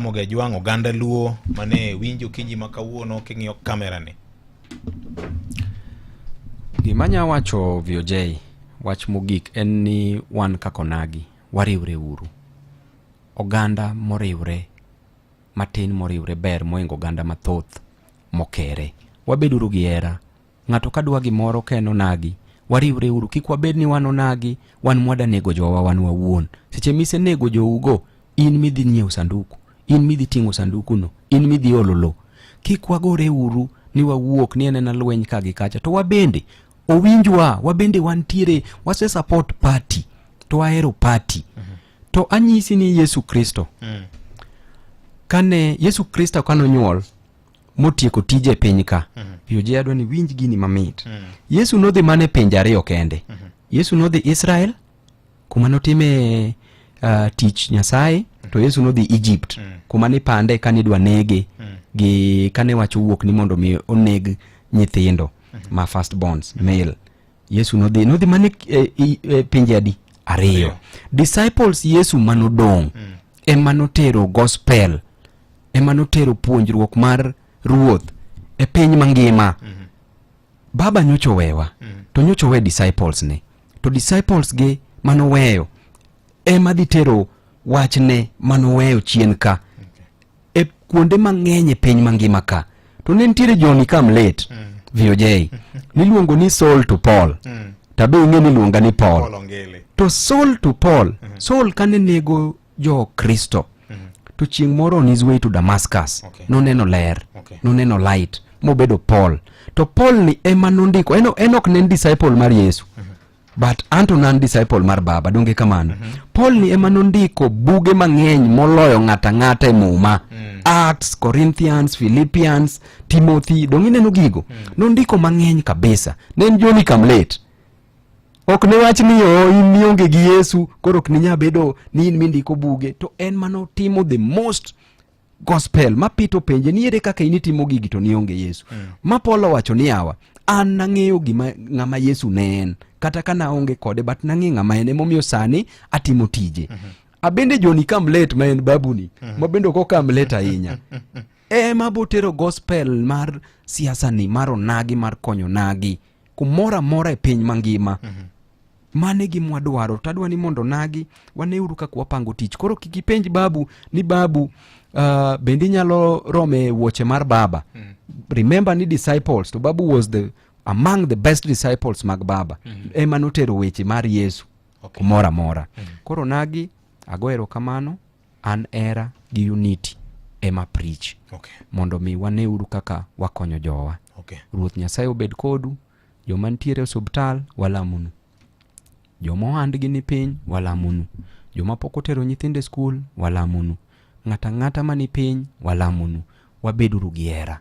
Ramogi Ajwang' oganda Luo mane winjo kinyi ma kawuono king'iyo kamerani. Gima nya wacho VOJ wach mogik en ni wan kaka onagi wariwre uru. Oganda moriwre matin moriwre ber moingo oganda mathoth mokere. Wabeduru gi hera. Ng'ato ka dwa gimoro ka en onagi, wariwre uru, kik wabed ni wan onagi, wan mwada nego jowa wan wawuon. Seche mise nego jougo, in midhi nyiewo sanduku, in midhi ting'o sandukuno, in midhi olo lo. Kik wagore uru ni wawuok ni enena lweny ka gi kacha, to wabende owinjwa, wabende wantiere, wase support party, to wahero party. Mm -hmm. To anyisi ni Yesu Kristo, mm. kane Yesu Kristo kanonyuol, motieko tije e piny ka mm -hmm. piyo je adwa ni winj gini mamit mm -hmm. yesu nodhi mana e pinje ariyo kende mm -hmm. yesu nodhi israel kuma notime uh, tich nyasaye mhm. to yesu nodhi egypt mm -hmm. kuma nipande kane idwa nege mm -hmm. gi kane wacho wuok ni mondo mi oneg nyithindo mm -hmm. ma first bonds mm -hmm. male yesu nodhi nodhi mana e, e, e pinje adi ariyo disciples yesu manodong' mm -hmm. ema notero gospel ema notero puonjruok mar ruoth e piny mangima mm -hmm. baba nyocho wewa mm -hmm. to nyocho we disciples ne to disciples gi manoweyo ema dhi tero wachne manoweyo chien ka okay. e kuonde mang'eny e piny mangima ka to ne nitiere joni kam late mm -hmm. voj niluongo ni sol to paul mm -hmm. tabe ing'e niluonga ni paul, paul to sol to paul mm -hmm. sol kane nego jo-kristo mm -hmm. to chieng' moro on his way to damascus okay. noneno ler okay. noneno light mobedo paul to paul ni ema nondiko en, en ok ne en disciple mar yesu mm -hmm. but anto nan disciple mar baba donge kamano mm -hmm. paul ni ema nondiko buge mang'eny moloyo ng'ata ng'ata e muma mm -hmm. acts corinthians philippians timothy donge ineno gigo mm -hmm. nondiko mang'eny kabisa ne en joni kamlet mm -hmm. ok ne wach ni o oh, in nionge gi yesu koro ok ninya bedo ni in mindiko buge to en mane otimo the most gospel ma pito penje ni ere kaka in itimo gigi to nionge yesu mm. ma polo owacho ni awa an nang'eyo gima ng'ama yesu ne en kata ka naonge kode but nang'e ng'ama en emomiyo sani atimo tije mm -hmm. abende joni kamlet ma en babuni mm -hmm. ma bende ok okamlet ahinya ema botero gospel mar siasani mar onagi mar konyo nagi kumoro amora e piny mangima mm -hmm. mane gi mwadwaro to adwa ni mondo nagi waneuru kaka wapango tich koro kik ipenj babu ni babu uh, bende inyalo rome wuoche mar baba mm -hmm. remember ni disciples to babu was the among the best disciples mag baba mm -hmm. ema notero weche mar yesu okay. kumoro amora mm -hmm. koro nagi ago erokamano an era gi unity ema preach Okay. mondo mi waneuru kaka wakonyo jowa Okay. ruoth nyasaye obed kodu joma nitiere e osuptal walamunu joma ohandgi ni piny walamunu joma pok otero nyithindo e skul walamunu ng'ata ng'ata ma ni piny walamunu wabeduru gi hera